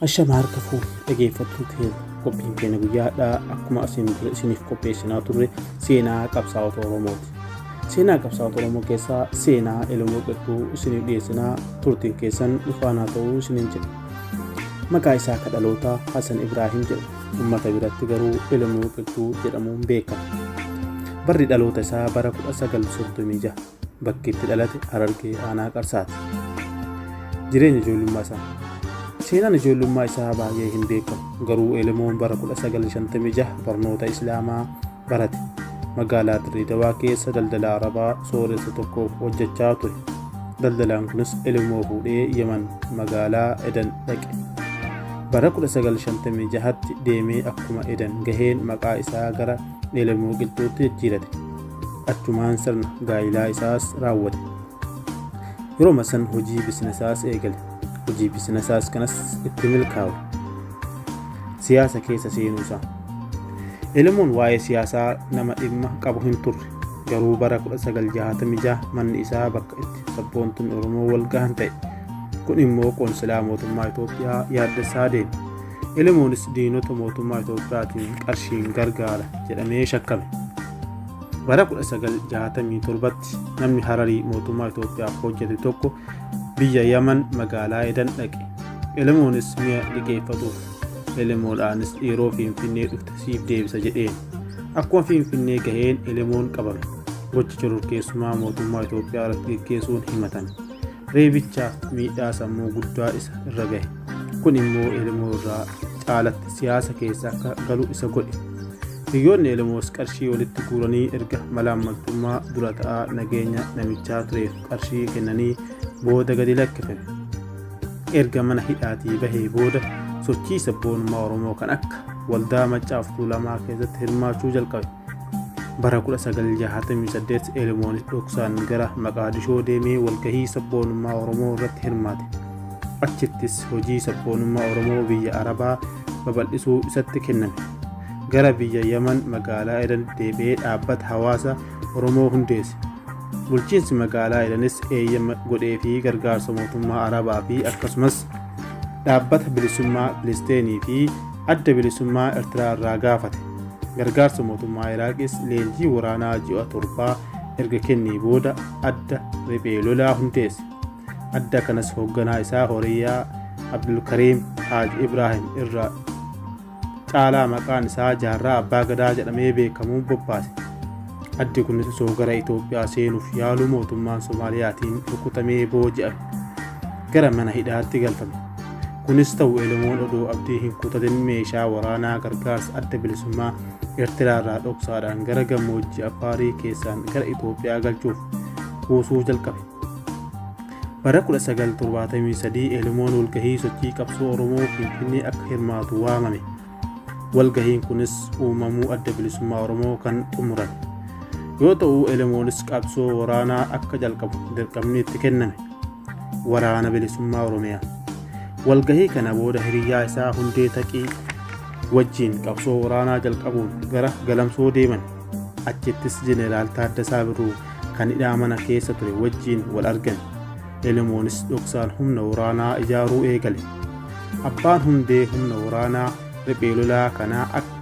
Ashama harka fuuf dhageeffattuu keenya qophiin keenya guyyaadhaa akkuma asiin dura isiniif qopheessinaa turre seenaa qabsaa'ota Oromooti. Seenaa qabsaa'ota Oromoo keessaa seenaa Elemoo Qilxuu isiniif dhiyeessinaa turtiin keessan dhufaanaa ta'uu isiniin jedha. Maqaa isaa akka dhalootaa Hasan Ibraahiim jedha. Uummata biratti garuu Elemoo Qilxuu jedhamuun beekama. Barri dhaloota isaa bara 1936. bakki itti dhalate Harargee aanaa Qarsaati. Jireenya ijoollummaa isaa. Seenaan ijoollummaa isaa baay'ee hin beekamu garuu Elemoon bara 1956 barnoota Islaamaa barate. Magaalaa Dirree Dawaa keessa daldala Arabaa sooressa tokkoof hojjechaa ture. Daldalaan kunis Elemoo fuudhee Yemen magaalaa Edan dhaqe. Bara 1956tti deemee akkuma Edan gaheen maqaa isaa gara Elemoo Qilxuutti jijjiirate. achumaan sirna gaa'ilaa isaas raawwate yeroma san hojii bisinasaas eegale hojii bisinasaas kanas itti milkaawe siyaasa keessa seenuu isaa elemoon waa'ee siyaasaa nama dhimma qabu hin turre garuu bara 1966 manni isaa bakka itti sabboontonni oromoo wal gahan ta'e kun immoo qoonsilaa mootummaa itoophiyaa yaaddessaa deeme Elemonis diinota mootummaa Itoophiyaatiin qarshiin gargaara jedhamee shakkame. Bara 1967tti namni Hararii mootummaa Itoophiyaaf hojjete tokko biyya Yaman magaalaa Edan dhaqe. Elemonis mi'a liqeeffatuuf Elemoodhaanis yeroo Finfinnee dhufte siif deebisa jedheen. Akkuma Finfinnee gaheen Elemoon qabame. Gocha shororkeessummaa mootummaa Itoophiyaa irratti geggeessuun himatame. reebichaaf miidhaa sammuu guddaa isa irra gahe kun immoo elemoo irraa caalatti siyaasa keessa akka galu isa godhe hiriyoonni elemoos qarshii walitti guuranii erga malaammaltummaa dura ta'aa nageenya namichaa tureef qarshii kennanii booda gadi lakkifame erga mana hidhaatii bahee booda sochii sabboonummaa oromoo kan akka waldaa maccaaf tuulamaa keessatti hirmaachuu jalqabe bara 1968 Elmoonis dhoksaan gara Maqaadishoo deemee walgahii sabboonummaa Oromoo irratti hirmaate. Achittis hojii sabboonummaa Oromoo biyya Arabaa babal'isuu isatti kenname. Gara biyya Yaman magaalaa Edan deebi'ee dhaabbata hawaasa Oromoo hundeesse. Bulchiinsi magaalaa Edanis eeyyama godhee fi gargaarsa mootummaa Arabaa fi akkasumas dhaabbata bilisummaa Filisteenii fi adda bilisummaa Ertiraa irraa gaafate. Gargaarsa mootummaa Iraaqis leenjii waraanaa ji'a torbaa erga kennee booda adda riphee lolaa hundeesse. Adda kanas hoogganaa isaa Horiyaa Abdulkariim Haaj Ibraahim irra caalaa maqaan isaa jaarraa abbaa gadaa jedhamee beekamuun bobbaase. Addi kunis osoo gara Itoophiyaa seenuuf yaaluu mootummaan Soomaaliyaatiin rukutamee booji'ame. Gara mana hidhaatti galfame. Kunis ta'u Elemoon odoo abdii hin kutatin meeshaa waraanaa gargaarsa adda bilisummaa Eertiraarraa dhoksaadhaan gara gammoojjii Affaarii keessaan gara Itoophiyaa galchuuf kuusuu jalqabe. Bara 1973 Elemoon walgahii sochii qabsoo Oromoo Finfinnee akka hirmaatu waamame. Walgahiin kunis uumamuu adda bilisummaa Oromoo kan xumuran yoo ta'u elemoonis qabsoo waraanaa akka jalqabu dirqamni itti kenname waraana bilisummaa Oromiyaa. Walgahii kana booda hiriyyaa isaa hundee taqii wajjiin qabsoo waraanaa jalqabuun gara galamsoo deeman achittis jeneraal Taaddasaa Birruu kan hidhaa mana keessa ture wajjiin wal argan. Selemoonis dhoksaan humna waraanaa ijaaruu eegale. Abbaan hundee humna waraanaa riphee lolaa kanaa akka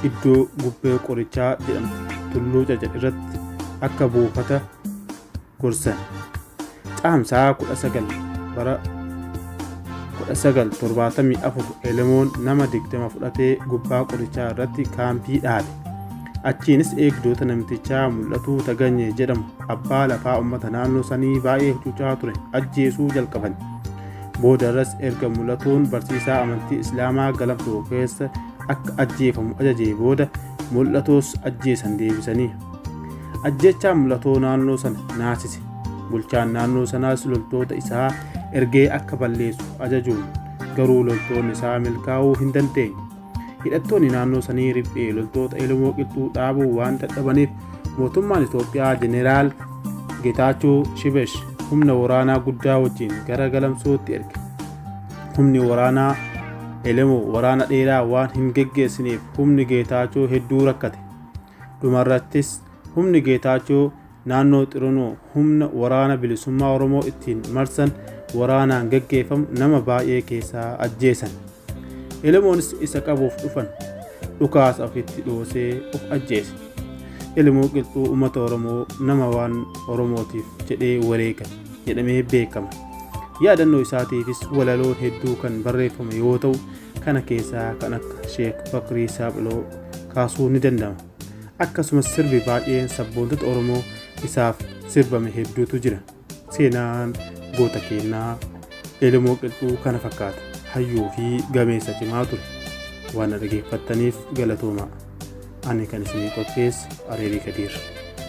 iddoo gubbee qorichaa jedhamtu tulluu caca irratti akka buufata gorsan. Caamsaa 19 bara 1974 Elemoon nama 20 fudhatee gubbaa qorichaa irratti kaampii dhaabe. Achiinis eegdoota namtichaa mul'atuu Tagany jedhamu abbaa lafaa uummata naannoo sanii baay'ee hacuucaa ture ajjeesuu jalqaban. Boodarras erga mul'atuun barsiisaa amantii Islaamaa galamsoo keessa akka ajjeefamu ajajee booda mul'atoos ajjeesan deebisanii. Ajjeechaan mul'atoo naannoo sana naasise. Bulchaan naannoo sanaas loltoota isaa ergee akka balleessu ajajuun garuu loltoonni isaa milkaa'uu hin dandeenye. hidhattoonni naannoo sanii riphee loltoota Oromoo qilxuu dhaabuu waan dadhabaniif mootummaan Itoophiyaa Jeneraal Getaachoo Shibesh humna waraanaa guddaa wajjin gara galamsootti erge. Humni waraanaa Elemoo waraana dheeraa waan hin geggeessineef humni Geetaachoo hedduu rakkate. Dhumarrattis humni Geetaachoo Naannoo Xironoo humna Waraana Bilisummaa Oromoo ittiin marsan waraanaan gaggeeffamu nama baay'ee keessaa ajjeesan. Elemoonis isa qabuuf dhufan. Dhukaasa ofitti dhoosee of ajjeese. Elemoo Qilxuu uummata Oromoo nama waan Oromootiif jedhee wareega jedhamee beekama. Yaadannoo isaatiifis walaloon hedduu kan barreeffame yoo ta'u, kana keessaa kan akka Sheek Bakrii Saaphiloo kaasuun ni danda'ama. akkasumas sirbi baay'een sabboontota oromoo isaaf sirbame hedduutu jira seenaan goota keennaa elemoo qilxuu kana fakkaata hayyuu fi gameessa cimaa ture waan na dhageeffattaniif galatoomaa ani kan isinii qopheesse areerii kadiir